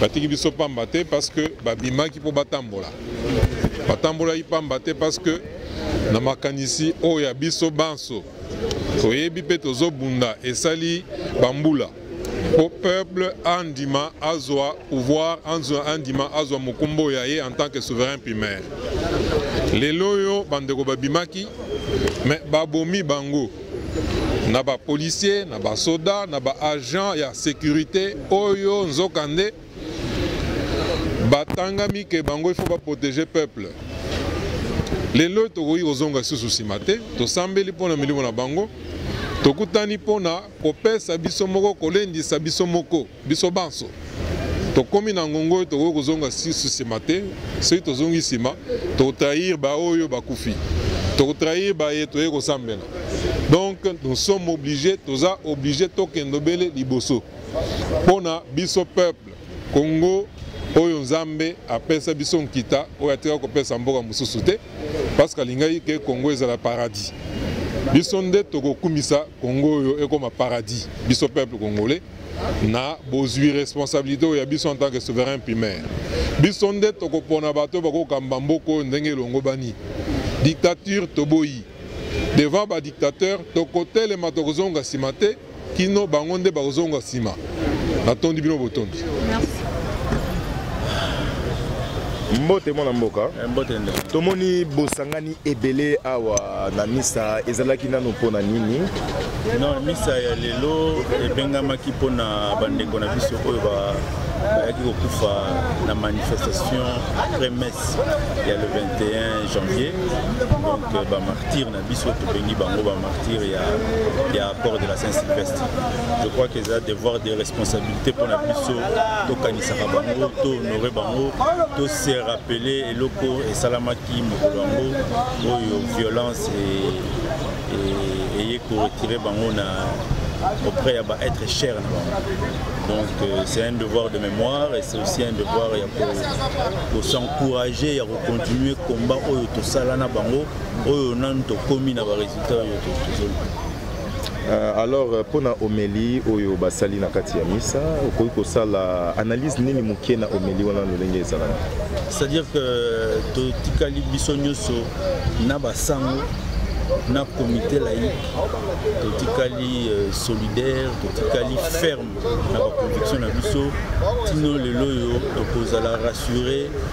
batiki biso pamba te parce que babimaki mpo batambola batambolaki pamba te parce que na makanisi oyo ya biso banso toyebi mpe tozobunda esali bambula mpo peuple andima azwa pouvoir andima azwa mokumba oyo ya ye en tant que souverain primaire lelo oyo bandeko babimaki me babomi bango na ba policiers na ba soda na ba agents ya sécurité oyo nzokande batangami ke bango il faut ba protéger peuple lelo tokoki kozonga lisusu nsima te tosambeli mpo na milimo na bango tokutani mpo na kopesa biso moko kolendisa biso moko biso banso tokomi na ngongo oyo tokoki kozonga susu nsima te soki tozongi nsima tokotrahir baoyo bakufi tokotrahir baye toyei kosambela donc nous sommes obligés toza oblige tokende obele liboso mpo na biso peuple congo oyo nzambe apesa biso nkita oyo atika kopesa mboka mosusu te parce que alingaki ke congo ezala paradis biso nde tokokumisa congo oyo ekoma paradis biso peuple congolais na bozwi responsabilité oyo ya biso en tant que souverain primaire biso nde tokopona bato bakokamba mboka oyo ndenge elongobani dictature toboyi devant badictateur tokotelema tokozonga nsima te kino bango nde bakozonga nsima natondi bino botondi mbote mwana mboka eh, tomoni bosangani ebele awa na misa ezalaki nano mpo na nini non misa ya lelo ebengamaki mpo na bandeko na biso oyo bayaki kokufa na manifestation après messe ya le 21 janvier donc euh, bamartire na biso tobengi bango bamartire ya, ya port de la saint sylvestre je crois que eza devoir de responsabilité mpo na biso tokanisaka bango tohonore bango tose rappeler eloko esalamaki Ki mokolo yango oyo violence eye ko retirer bango na auprès ya ba être cher na bango donc euh, c'est un devoir de mémoire et c'est aussi un devoir ya ko s'encourager ya ko continuer combat oyo tosala na bango oyo nanu tokomi na ba résultats oyo tozoluka Euh, alors euh, mpo na omeli oyo basali na kati ya misa okoki kosala analyse nini moke na omeli wana lolenge ezalaka c'est-à-dire que euh, totikali biso nyonso na basango na comité laïque totikali euh, solidaire totikali ferme na baconviction na biso tino lelo oyo tokozala rassure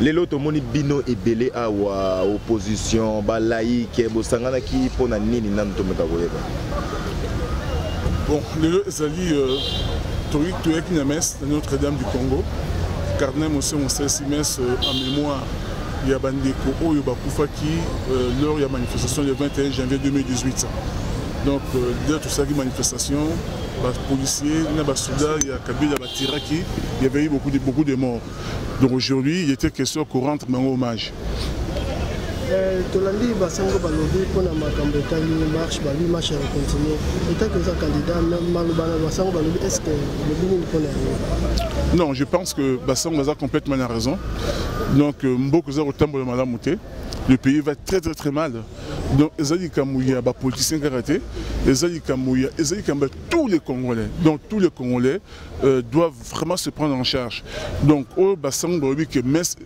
lelo tomoni bino ebele awa opposition balaike bosanganaki mpo na nini nanu tomeka koyeba bon lelo ezali euh, toyaki na messe na notre dame du congo cardinal mose mosalisi messe euh, en mémoire ya bandeko oyo bakufaki euh, lors ya manifestation le 21 janvier 2018 donc lelo tosalaki manifestation bapolicier na basoda ya kabila batiraki il y avait eu beaucoup de, beaucoup de morts Donc aujourd'hui, il était question qu'on rentre dans hommage. Euh, tolandi basango balobi mpona makambo etali marche balobi marche ya continue etaki oza candidat maloba na basango balobi est ce que lobi nini mpona yango non je pense que basango baza complètement na raison donc euh, mboka eza kotambola malamu te le pays va très très très mal donc eza likambo ya bapoliticien kaka te eza likambo ya eza likambo ya tous les congolais donc tous les congolais Euh, doivent vraiment se prendre en charge. Donc, au bassin de que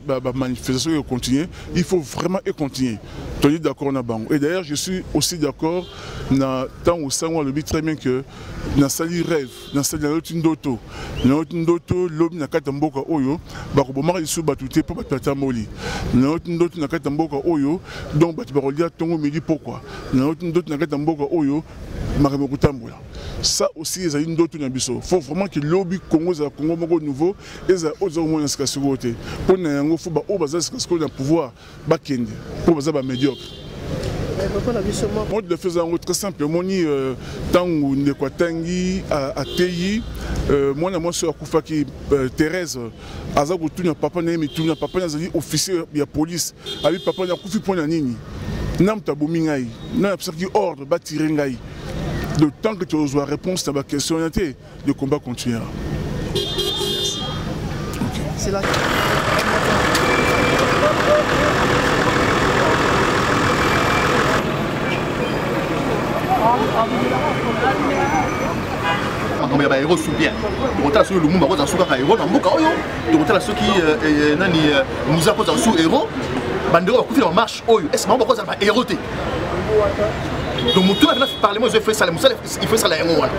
la manifestation est continuer, il faut vraiment et continuer. Tu es d'accord na bango. Et d'ailleurs, je suis aussi d'accord na tant au sang le très bien que na sali rêve, na sali na l'autre ndoto, na l'autre ndoto l'homme na kata mboka oyo, bako bomaka isu batute pour batata moli. Na l'autre ndoto na kata mboka oyo, donc batu bakolia tongo midi pourquoi. Na l'autre ndoto na kata mboka oyo, makambo kotambola. ça aussi ezali ndoto na biso faut vraiment que lobi congo ezala congo moko nouveau ezala oyo toza komona sika sikoyo te mpo na yango fo baoyo baza sika sikoyo na pouvoir bakende mpo baza bamédiocre mode de feza yango très simple omoni ntango euh, ndeko atangi ateyi euh, mwana mwasi oyo akufaki euh, therese aza kotuna papa na ye mituna papa na azali officier ya police abi papa na akufi mpo na nini na moto abomi ngai na napesaki ordre batire ngai de temps que tozwa réponse na baquestion wana te le combat continuera okay. makambo ya baero su bien tokotala soki lumumba akozala su kaka ero na mboka oyo tokotala soki euh, euh, euh, nani muza akozala su ero bandeko bakufi na bamarche oyo ese bango bakozala baero te donc motu avena parlement ezo efesala mosala il faut esala yango wana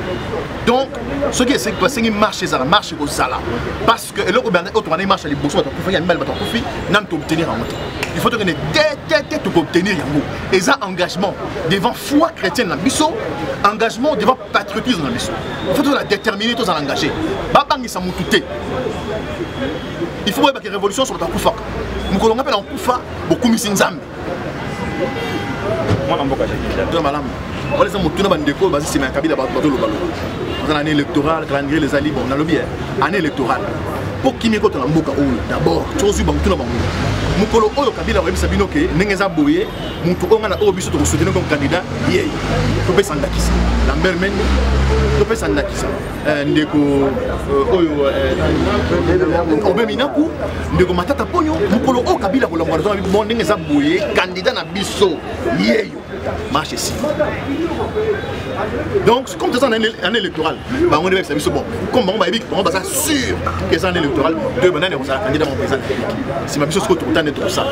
donc soki basengi marche ezala marche ekozala parce que eloko oyo tokana marche ya liboso bato akufaki ya mibale bato akufi nanu toobtenir yango te il faut tokende te te te tokoobtenir yango eza engagement devant foi chrétienne na biso engagement devant patriotisme na biso faut tozala déterminé tozala engagé babangisa motu te il faut boyebaki révolution nyonso bato akufaka mokolo ngai mpe na kokufa bokumisi nzambe mwana mboka to malamu wana eza motuna bandeko baza nsima ya kabila bato bazolobaloba aza na année électorale calendrier eza libre nalobi année électorale mpo kimia ekota na mboka oyo d'abord tozwi bamotuna bango mokolo oyo kabila oyebisa bino ke ndenge eza boye moto oyo ngai na oyo biso tokosutene comme candidat ye topesa ndakisa lambert mende topesa ndakisa eh, ndeko eh, oyo eh, obe minaku ndeko matata mponyo mokolo oyo kabila kolangwa nazo bon ndenge eza boye candidat na biso yeyo marche esi donc comme toza na année électorale bango nde bayebisa biso bon comme bango bayebi bango baza sûr eza année électorale de banani ekozala candidat moko eza nsima biso sikoyo tokutane tokosala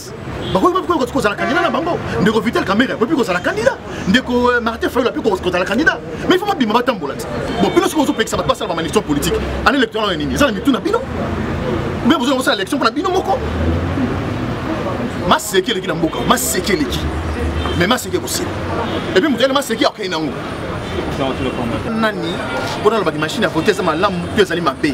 bakoki bapi koki kozala kandida na bango ndeko vital kamere akoki kozala kandida ndeko euh, martin fayol api kozala kandida mais ifo babima batambola te bon bino soki ozopekisa bato basala bamanifestation politique ana électoral oyo nini eza na mitu na bino mpe bozonga kosala élection mpo na bino moko maseki eleki na mboka maseki eleki mais maseki ekosila epuis moto yale maseki akei nango nani mpona alobaki mashine ya vote eza malamu to ezali mabe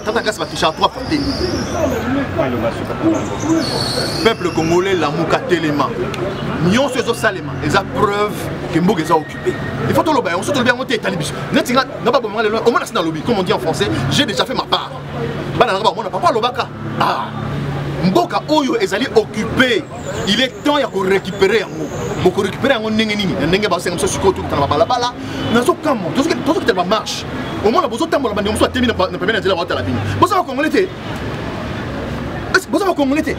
tata kasi batouchaka trois fois te peuple congolais lamuka telema nyonso ezosalema eza preuve ke mboka eza occupe il faut toloba yango so tolobi yango te etali biso neti nga nga babomanga lelo omona si nalobi comme on dit en français j'ai déjà fait ma part bana nanga bamona papa alobaka ah mboka oyo ezali occupe il est temps ya korécupere yango bokorécupere yango ndenge nini na ndenge basenga mosusu sikoyo tokita na babalabala nazokamwa tozokita na bamarche omona bozotambola bandeko mosusu atemi na pembeni ya nzela baotala bino boza bakongole te boza bakongole te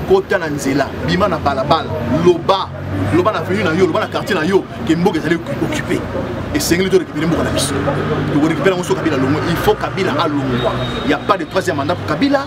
kota na nzela bima na balabala loba loba na venu na yo loba na quartier na yo ke mboka ezali occupe esengeli torekipere mboka na biso tokorekipere yango so kabila longo il faut kabila alongwa ya pas de troisième mandat kabila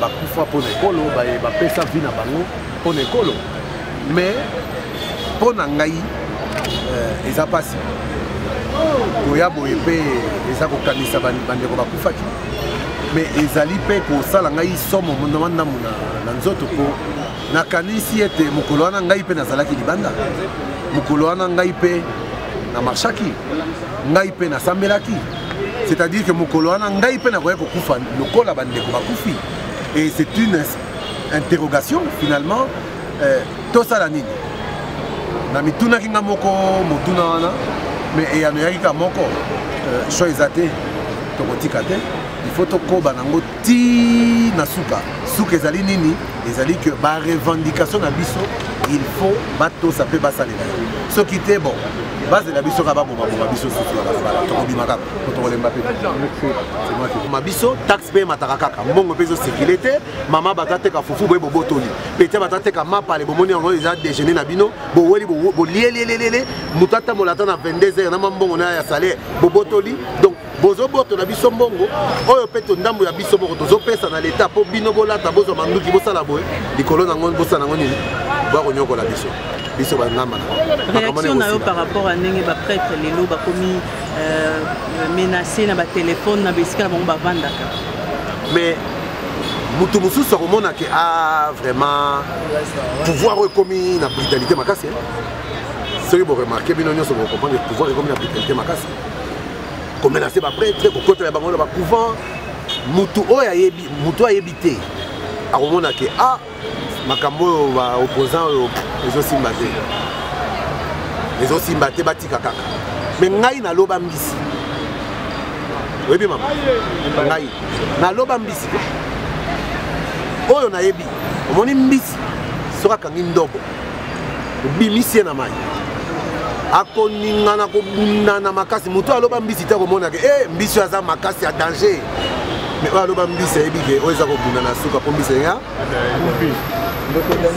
bakufa mpo na ekolo baye bapesa vi na bango mpo na ekolo mais mpo na ngai euh, eza mpasi koya boye mpe eza kokanisa bandeko bakufaki mais ezali mpe kosala ngai somo ndamandambu na nzoto mpo nakanisi ete mokolo wana ngai mpe nazalaki libanda mokolo wana ngai mpe na marshaki ngai mpe nasambelaki c'est-à-dire que mokolo wana ngai mpe nakoya kokufa lokola bandeko bakufi et c'est une interrogation finalement euh, tosala nini na mitunaki nga moko motuna wana mais eyano eyaki ka moko euh, cho eza te tokotika te il faut tokoba nango ti na suka suka ezali nini ezali que barevendication na biso il faut batosa mpe basalela yango soki te bon bazela biso kaka babomaboma biso susu ya balabala tokobima kaka po tokolemba mpe ma biso taxe mpe emataka kaka mbongo mpe ezosekile te mama batateka fufu boye bobotoli petia batateka mapale bomoni yango eza déjeuner na bino boweli bolielielelele moto atambola ata na 22 heures na mambongo na ya salaire bobotoli donc bozobotola biso mbongo oyo mpe tondambo ya biso moko tozopesa na leta mpo bino bolata bozwa manduki bosala boye likolo nango bosala nango nini bakonyokola biso biso bangamba réaction na yo par rapport à ndenge baprêtre lelo bakomi euh, menace na batelefone na baesika na bango bavandaka mais moto mosusu akomona ke a ah, vraiment pouvoir oyo ekomi na brutalité makasi soki boremarke bino nyonso bokompane pouvoir ekomi na brutalité makasi komenase bapretre kokotela bango na bacouvent motu oyo ayebi motu oyo ayebi te akomona ke a ah, makambo oyo baopposant oyo ezosimba te ezosimba te batika kaka me ngai naloba mbisi oyebi mama ngai naloba mbisi oyo nayebi omoni mbisi soki akangi ndobo obimisi ye na mai akoningana kobundana makasi moto oyo aloba mbisi te akomonaka e eh, mbisi oyo aza makasi ya danger me oyo aloba mbisi ayebi ke oyo eza kobunda na suka mpo mbisi ya